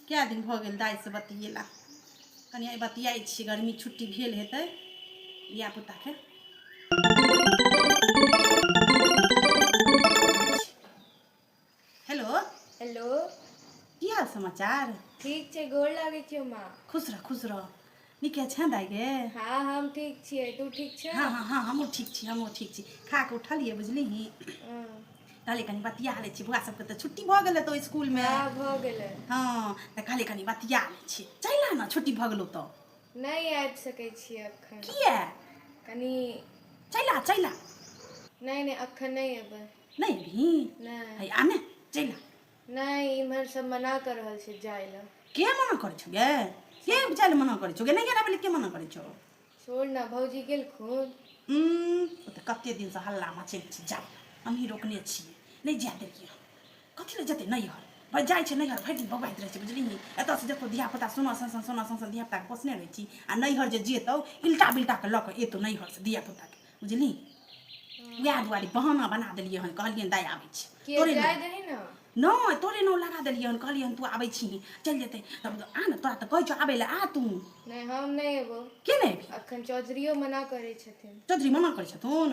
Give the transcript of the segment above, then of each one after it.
कए दिन भऽ गेल दाइसँ बतियेला कनि आइ बतियाइ छी गर्मी छुट्टी भेल हेतै धियापुताके हेलो हेलो की हाल समाचार ठीक छै गोर लागै छियौ माँ खुश रह खुश रह नीके छै दाइ गे हाँ हम ठीक छियै तू ठीक छै हाँ हाँ हाँ हमहूँ ठीक छी हमहूँ ठीक छी खा कऽ उठलियै बुझलिही कहलियै कनि बतिया लै छी बौआ सबके तऽ छुट्टी भऽ गेलै तऽ इसकुलमे हाँ भऽ गेलै हाँ तऽ कहलियै कनि बतिया लै छी चलि आ ने छुट्टी भऽ गेलौ तऽ नहि आबि सकै छी एखन किया कनि चलि आ चलि आ नहि नहि एखन नहि एबै नहि अभी नहि है आने चलि आ नहि इम्हर सब मना कर रहल छै जाय लए के मना करै छौ गे के जाय लए मना करै छौ गे नहि गेला बोले के मना करै छौ छोड़ ना भौजी गेलखुन उम्म, ओ तऽ कते दिन से हल्ला मचै छै जाय लए हमही रोकने छियै नहि जाय देलियै हन। कथी लए जेतै नैहर भाय जाइ छै नैहर भरि दिन बौआइत रहै छै बुझलिही एतऽसँ देखो धियापुता सोना सन सन सोना सन सन धियापुताके पोसने रहै छी आ नैहर जे जेतौ इल्टा बिल्टाके लऽ कऽ एतौ नैहरसँ धियापुताके बुझली वएह दुआरे बहाना बना देलियै हन कहलियै दाय आबै छी तोरे नहि तोरे नाम लगा देलियै हन कहलियै हन तू आबै छी चलि जेतै तब आ ने तोरा तऽ कहै छौ आबै लए आ तू नहि हम नहि एबो के नहि एबी अखन चौधरीओ मना करै छथिन चौधरी मना करै छथुन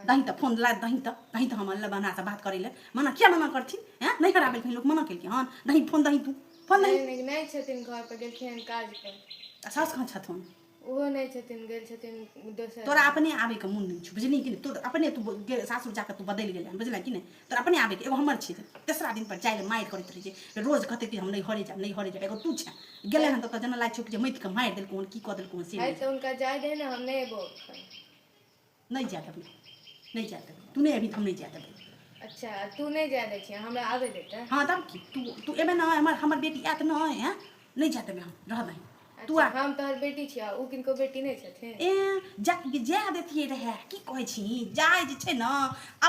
दही तऽ फोन ला दही तऽ दही तऽ हम अल्लाह बनासँ बात करै लए मना किया मना करथिन हैं नहि हरा बेलखिन लोक मना केलखिन हन दही फोन दही तू फोन दही नहि छथिन घर पर गेलखिन काज पर सास कहाँ छथुन ओहो नहि छथिन गेल छथिन दोसर तोरा अपने आबैके मोन नहि छौ बुझलिही कि नहि तोर अपने तू सासुर जाकऽ तू बदलि गेलै बुझल कि नहि तोर अपने आबैके एगो हमर छै तेसरा दिनपर जाइ लए मारि करैत रहै छै रोज कहतै कि हम नहि हरे जायब नहि हरे जायब एगो तू छै गेलै हन तऽ जेना लागै छौ कि जे माटिके मारि देलकौ हन की कऽ देलकौ हन से हुनका जाय दे ने हम नहि एबो नहि जाय देबै नहि जाय देबै तू नहि अभी हम नहि जाय देबै अच्छा तू नहि जाय दै छियै हमरा आबै दे तऽ हँ तब की तू तू एबे नहि हमर हमर बेटी आयत नहि हैं नहि जाय देबै हम रह दही तू अच्छा, आ हम तोहर बेटी छियै ओ किनको बेटी नहि छथिन ए जा जाय देतियै रहए की कहै छी जाय जे छै ने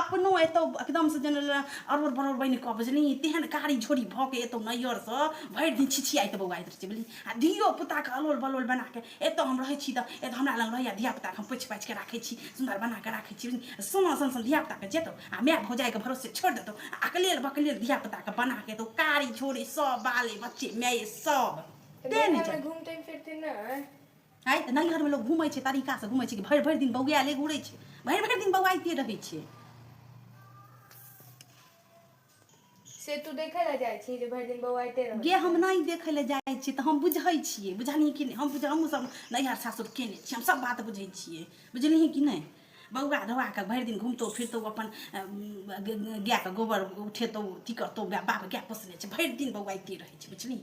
अपनो एतौ एकदमसँ जेना अरोर बरोर बनि कऽ बुझली तेहन कारी झोरी भऽ के एतौ नैहरसँ भरि दिन छिछियाइत बौआइत रहै छै बुझली आ धियो पुताके अलोल बलोल बना कऽ एतऽ हम रहै छी तऽ एतऽ हमरा लग रहैए धियापुताके हम पोछि पाछिके राखै छी सुन्दर बनाकऽ राखै छी सोना सन सन धियापुताके जेतौ आ माय भौजाइके भरोसे छोड़ि देतौ आ अकलेल बकलेल धियापुताके बनाके एतौ कारी छोड़े सब बाले बच्चे माये सब तेँ नहि जाय घूमते फिरते नहि आइ तऽ नैहरमे लोक घूमै छै तरीकासँ घूमै छै कि भरि भरि दिन बौआएले घूरै छै भरि भरि दिन बौआइते रहै छै से तू देखै लए जाइ छी जे भरि दिन बौआ गे हम नहि देखै लए जाइ छियै तऽ हम बुझै छियै बुझलियै कि नहि हम बुझ हमहूँ सब नैहर सासुर केने छियै हम सब बात बुझै छियै बुझलियै कि नहि बौआ धौआ कऽ भरि दिन घुमतौ फिरतौ अपन गायके गोबर उठेतौ अथी करतौ बाप गाय पोसने छै भरि दिन बौआ एतै रहै छै बुझलियै